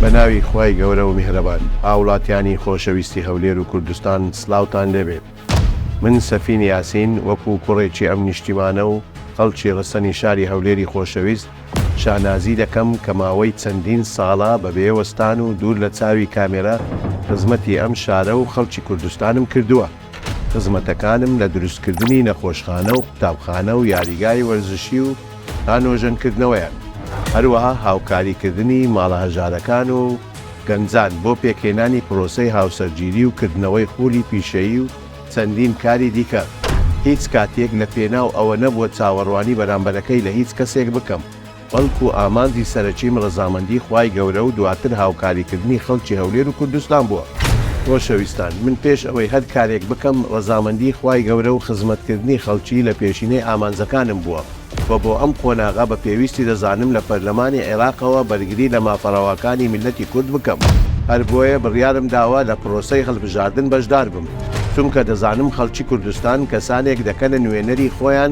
بە ناوی خوای گەورە و میهرەبان. هاوڵاتیانی خۆشەویستی هەولێر و کوردستان سلاوتان لێ بێت من سەفین یاسین وەکو کوڕێکی ئەم نیشتیمانە و خەڵکی ڕەسەنی شاری هەولێری خۆشەویست شانازی دەکەم کە ماوەی چەندین ساڵە بە بێ وەستان و دوور لە چاوی کامێرا خزمەتی ئەم شارە و خەڵکی کوردستانم کردووە. خزمەتەکانم لە دروستکردنی نەخۆشخانە و قوتابخانە و یاریگای وەرزشی و تا نۆژەنکردنەوەیان، هەروەها هاوکاریکردنی ماڵە هەژارەکان و گەنجان بۆ پێکهێنانی پرۆسەی هاوسەرگیری و کردنەوەی خولی پیشەیی و چەندین کاری دیکە، هیچ کاتێک لە پێناو ئەوە نەبووە چاوەڕوانی بەرامبەرەکەی لە هیچ کەسێک بکەم. بەڵکو ئامانجی سەرەکیم ڕەزامەندی خوای گەورە و دواتر هاوکاری کردنی خەڵکی هەولێر و کوردستان بووە. خۆشەویستان، من پێش ئەوەی هەر کارێک بکەم ڕەزامەندی خوای گەورە و خزمەت کردنی خەڵکی لە پێشینەی ئامانجەکانم بووە و بۆ ئەم قۆناغە بە پێویستی دەزانم لە پەرلەمانی عێراقەوە بەرگری لە مافە ڕەواکانی میللەتی کورد بکەم، هەر بۆیە بڕیارم داوە لە پرۆسەی هەڵبژاردن بەشدار بم، چونکە دەزانم خەڵکی کوردستان کەسانێک دەکەنە نوێنەری خۆیان،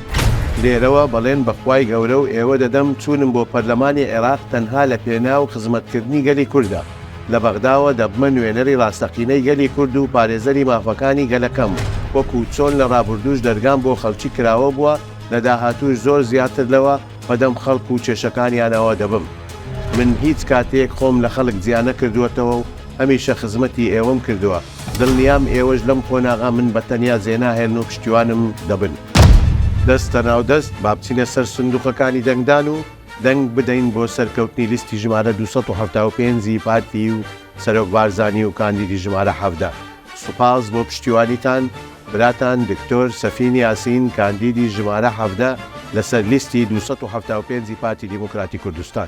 لێرەوە بەڵێن بە خوای گەورە و ئێوە دەدەم، چوونم بۆ پەرلەمانی عێراق تەنها لە پێناو خزمەتکردنی گەلی کوردە. لە بەغداوە دەبمە نوێنەری ڕاستەقینەی گەلی کورد و پارێزەری مافەکانی گەلەکەم، وەکو چۆن لە ڕابوردووش دەرگام بۆ خەڵکی کراوە بووە، لە داهاتووش زۆر زیاتر لەوە، بەدەم خەڵک و کێشەکانیانەوە دەبم. من هیچ کاتێک خۆم لە خەڵک جیا نەکردووەتەوە و هەمیشە خزمەتی ئێوەم کردووە، دڵنیام ئێوەش لەم قۆناغە من بە تەنیا جێ ناهێڵن و پشتیوانم دەبن. دەستە ناو دەست، با بچینە سەر سندووقەکانی دەنگدان و دەنگ بدەین بۆ سەرکەوتنی لیستی ژمارە دوو سەد و حەفتا و پێنج ی پارتی و سەرۆک بارزانی و کاندیدی ژمارە حەڤدە. سوپاس بۆ پشتیوانیتان. براتان دکتۆر سەفین یاسین کاندیدی ژمارە حەڤدە لەسەر لیستی دوو سەد و حەفتا و پێنج ی پارتی دیموکراتی کوردستان.